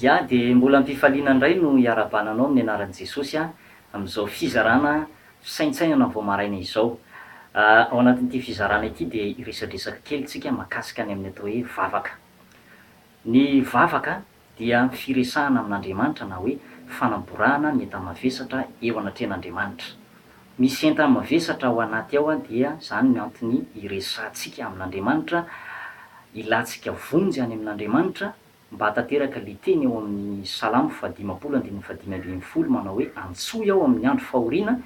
Ya dia mbola ampifaliana indray no hiara-bana anao amin'ny anaran'i Jesosy aho amin'izao fizarana fisaintsainana vao maraina izao. Ao anatin'ity fizarana ity dia hiresadresaka kely isika makasika ny amin'ny atao hoe vavaka. Ny vavaka dia firesahana amin'Andriamanitra na hoe fanamborahana ny enta-mavesatra eo anatrehan'Andriamanitra. Misy entana mavesatra ao anaty ao dia izany ny antony iresahantsika amin'Andriamanitra, ilantsika vonjy any amin'Andriamanitra mba hahatanteraka ilay teny ao amin'ny Salamo fahadimampolo andininy fahadimy ambin'ny folo manao hoe Antsoy aho amin'ny andro fahoriana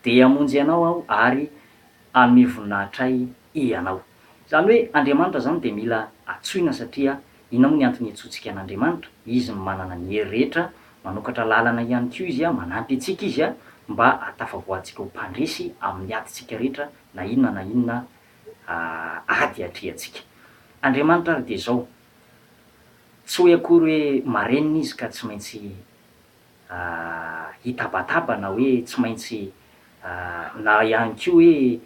dia hamonjy anao aho ary hanome voninahitra ahy ianao. Izany hoe Andriamanitra izany dia mila antsoina satria inona moa ny antony iantsoantsika an'Andriamanitra? Izy manana ny hery rehetra, manokatra lalana ihany koa Izy, manampy antsika Izy mba hahatafavoahantsika ho mpandresy amin'ny adintsika rehetra na inona na inona ady atrehantsika. Andriamanitra ary dia izao, tsy hoe akory hoe marenina Izy ka tsy maintsy hitabataba na hoe tsy maintsy na ihany koa hoe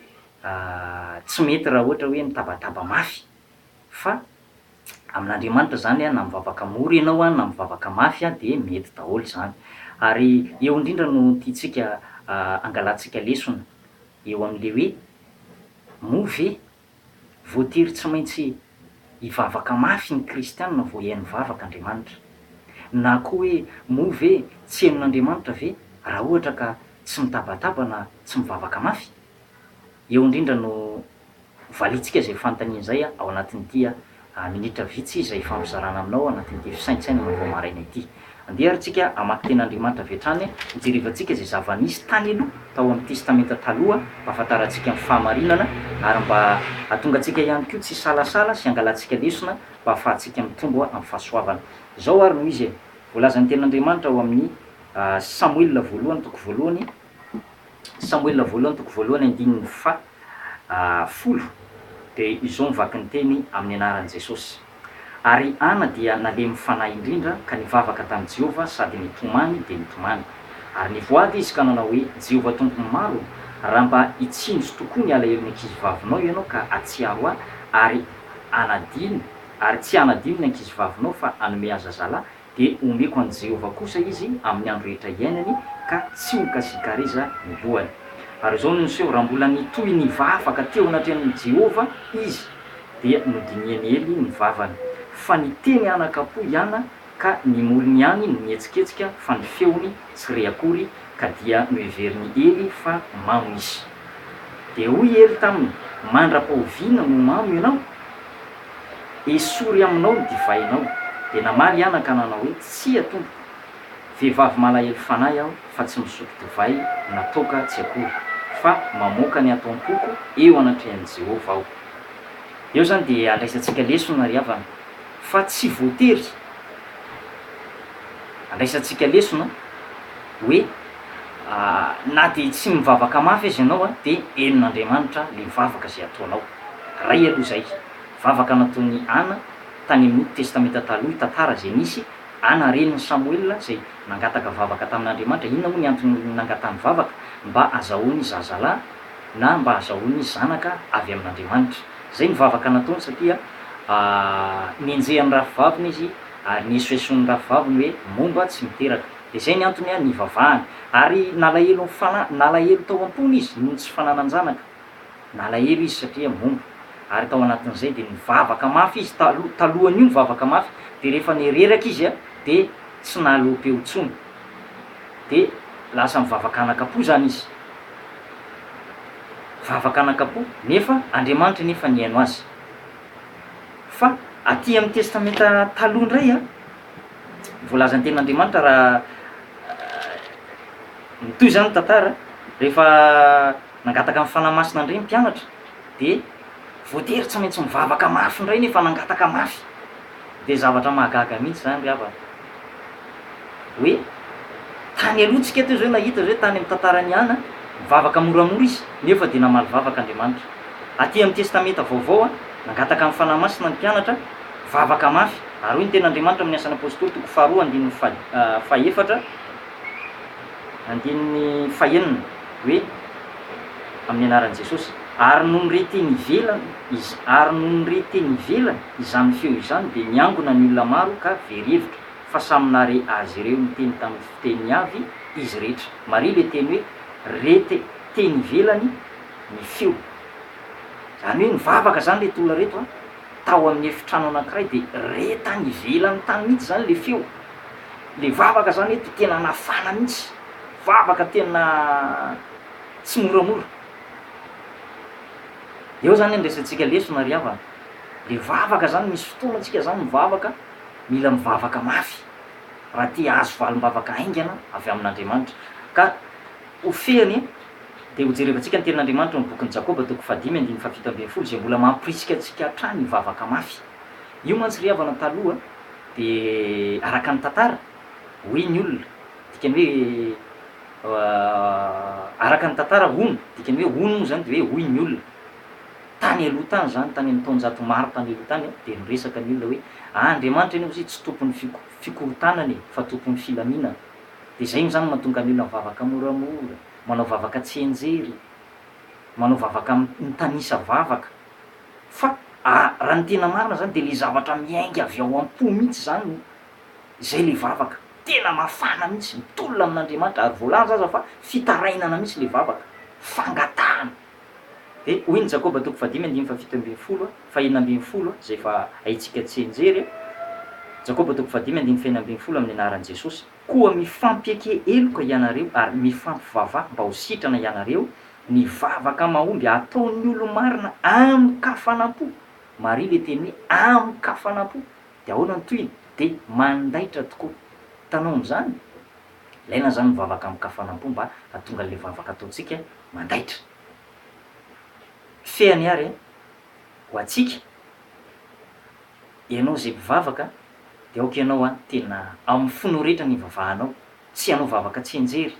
tsy mety raha ohatra hoe mitabataba mafy fa amin'Andriamanitra izany na mivavaka mora ianao na mivavaka mafy dia mety daholo izany. Ary eo indrindra no tiantsika angalantsika lesona eo amin'ilay hoe moa ve Voatery tsy maintsy hivavaka mafy ny kristiana vao hihaino vavaka Andriamanitra. Na koa hoe moa ve tsy henon'Andriamanitra ve raha ohatra ka tsy mitabataba na tsy mivavaka mafy? Eo indrindra no ho valintsika izay fanontaniana izay ao anatin'ity A Minitra vitsy izay ifampizarana aminao anatin'ity fisaintsainana vao maraina ity. Andeha ary tsika hamaky Tenin'Andriamanitra avy hatrany, hijerivantsika izay zava-nisy tany aloha, tao amin'ny Testamenta Taloha, mba hahafantarantsika ny fahamarinana, ary mba hahatonga antsika ihany koa tsy hisalasala sy hangalantsika lesona mba hahafahantsika mitombo amin'ny fahasoavana. Izao ary no izy e, voalazan'ny Tenin'Andriamanitra ao amin'ny Samoela Voalohany toko voalohany, Samoela voalohany toko voalohany andininy faha folo dia izao ny vakin'ny teny amin'ny anaran'i Jesosy, Ary Ana dia nalemy fanahy indrindra ka nivavaka tamin'i Jehovah sady nitomany dia nitomany. Ary nivoady izy ka nanao hoe, Jehovah Tompon'ny maro, raha mba hitsinjo tokoa ny alahelon'ny ankizivavinao ianao ka hahatsiaro ahy ary hanadino, ary tsy hanadino ny ankizivavinao fa hanome azy zazalahy, Dia homeko an'i Jehovah kosa izy amin'ny andro rehetra iainany, ka tsy ho kasikareza ny lohany. Ary izao no niseho, Raha mbola nitohy nivavaka teo anatrehan'i Jehovah izy, dia nodinihan'i Ely ny vavany, fa niteny anakam-po i Ana, ka ny molony ihany no nihetsiketsika, fa ny feony tsy re akory, ka dia noheverin'i Ely fa mamo izy. Dia hoy Ely taminy, Mandra-pahoviana no mamo ianao? Esory aminao ny divainao. Dia namaly i Ana ka nanao hoe, Tsia, Tompoko. Vehivavy malahelo fanahy aho, fa tsy misotro divay na toaka tsy akory, fa mamoaka ny ataom-poko eo anatrehan'i Jehovah aho. Eo izany dia andraisantsika lesona, ry havana, fa tsy voatery andraisantsika lesona. hoe na dia tsy mivavaka mafy aza ianao dia henon'Andriamanitra ilay vavaka izay ataonao. Ray aloha izay. Vavaka nataon'i Ana tany amin'ny Testamenta Taloha, tantara izay nisy. Ana renin'i Samoela izay nangataka vavaka tamin'Andriamanitra. Inona moa ny antony nangatahany vavaka? Mba hazahoany zazalahy na mba hazahoany zanaka avy amin'Andriamanitra. Izay ny vavaka nataony satria nenjehan'ny rafivaviny izy ary niesoesoan'ny rafivaviny hoe momba tsy miteraka. Dia izay ny antony nivavahany. Ary nalahelo ny fanahy, nalahelo tao am-pony izy noho ny tsy fananan-janaka. Nalahelo izy satria momba. Ary tao anatin'izay dia nivavaka mafy izy, taloha, talohan'io nivavaka mafy, dia rehefa nireraka izy dia tsy nahaloa-peo intsony. Dia lasa mivavaka anaka-po izany izy. Vavaka anaka-po, nefa Andriamanitra nefa nihaino azy. Fa aty amin'ny Testamenta Taloha indray an. voalazan'ny tenin'Andriamanitra raha mitohy izany ny tantara, rehefa nangataka ny Fanahy Masina indray ny mpianatra dia voatery tsy maintsy nivavaka mafy indray nefa nangataka mafy. Dia zavatra mahagaga mihitsy izany ry havana hoe tany aloha tsika teo izao nahita izao tany amin'ny tantaran'i Ana, nivavaka moramora izy nefa dia namaly vavaka Andriamanitra. Aty amin'ny Testamenta Vaovao nangataka ny Fanahy Masina ny mpianatra, Vavaka mafy ary hoy ny Tenin'Andriamanitra amin'ny Asan'ny Apositoly, toko faharoa, andininy fahefatra, andininy fahenina, hoe, Amin'ny Anaran'i Jesosy. Ary nony re teny ivelany, ary nony re teny ivelany izany feo izany dia niangona ny olona maro ka very hevitra, fa samy nahare azy ireo niteny tamin'ny fiteniny avy izy rehetra. Maria ilay teny hoe re te, teny ivelany ny feo. Izany hoe nivavaka izany ireto olona ireto an! Tao amin'ny efitrano anankiray dia re tany ivelany tany mihitsy izany ilay feo. Ilay vavaka izany dia tena nafana mihitsy, vavaka tena tsy moramora. Eo izany andraisantsika lesona ry havana. Ilay vavaka izany, misy fotoana isika izany mivavaka, mila mivavaka mafy raha te hahazo valim-bavaka haingana avy amin'Andriamanitra. Ka Ho fehiny, dia hojerevantsika ny Tenin'Andriamanitra ao amin'ny bokin'i Jakoba, toko fahadimy andininy fahafito ambin'ny folo, izay mbola mampirisika antsika hatrany hivavaka mafy. Io mantsy ry havana taloha dia araka ny tantara, hoy ny olona, dikany hoe, araka ny tantara, hono, dikany hoe hono moa izany dia hoe hoy ny olona. Tany aloha tany izany, tany amin'ny taonjato maro tany aloha tany aho, dia niresaka ny olona hoe, ah, Andriamanitra anie hozy tsy tompon'ny fikorontanana e, fa tompon'ny filaminana. Dia izay izany no mahatonga ny olona mivavaka moramora, manao vavaka tsy henjery, manao vavaka mitanisa vavaka. Fa raha ny tena marina izany dia ilay zavatra miainga avy ao am-po mihitsy izany no, izay ilay vavaka. Tena mafana mihitsy, mitolona amin'Andriamanitra. Ary voalaza aza fa fitarainana mihitsy ilay vavaka, fangatahana. Dia hoy ny Jakoba toko fahadimy andininy fahafito ambin'ny folo, fahenina ambin'ny folo, izay efa haintsika tsy hianjery, Jakoba toko fahadimy andininy fahenina ambin'ny folo amin'ny anaran'i Jesosy, Koa mifampieke heloka hianareo ary mifampivavaha mba ho sitrana hianareo, ny vavaka mahomby ataon'ny olo-marina amin-kafanam-po, Maria ilay teny hoe amin-kafanam-po, dia ahoana ny tohiny? Dia mandaitra tokoa. Hitanao amin'izany? Ilaina izany ny vavaka amin-kafanam-po mba hahatonga an'ilay vavaka ataontsika mandaitra. Fehiny àry ho antsika, ianao izay mpivavaka, dia aoka ianao an, tena amin'ny fonao rehetra no ivavahanao, tsy hanao vavaka tsianjery,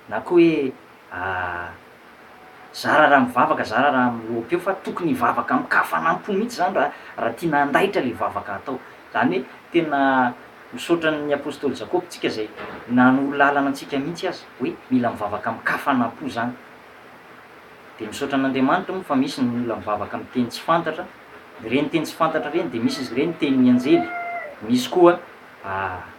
na koa hoe Aah. Zara raha mivavaka zara raha miloaka eo fa tokony hivavaka amin-kafanam-po mihitsy izany raha raha tiana handaitra ilay vavaka hatao. Izany hoe tena misaotra ny Apostoly Jakoba tsika izay nanoro lalana antsika mihitsy aza hoe mila mivavaka amin-kafanam-po izany. Dia misaotra an'Andriamanitra moa fa misy ny olona mivavaka amin'ny teny tsy fantatra, ireny teny tsy fantatra ireny dia misy izy ireny tenin'ny anjely, misy koa, aah.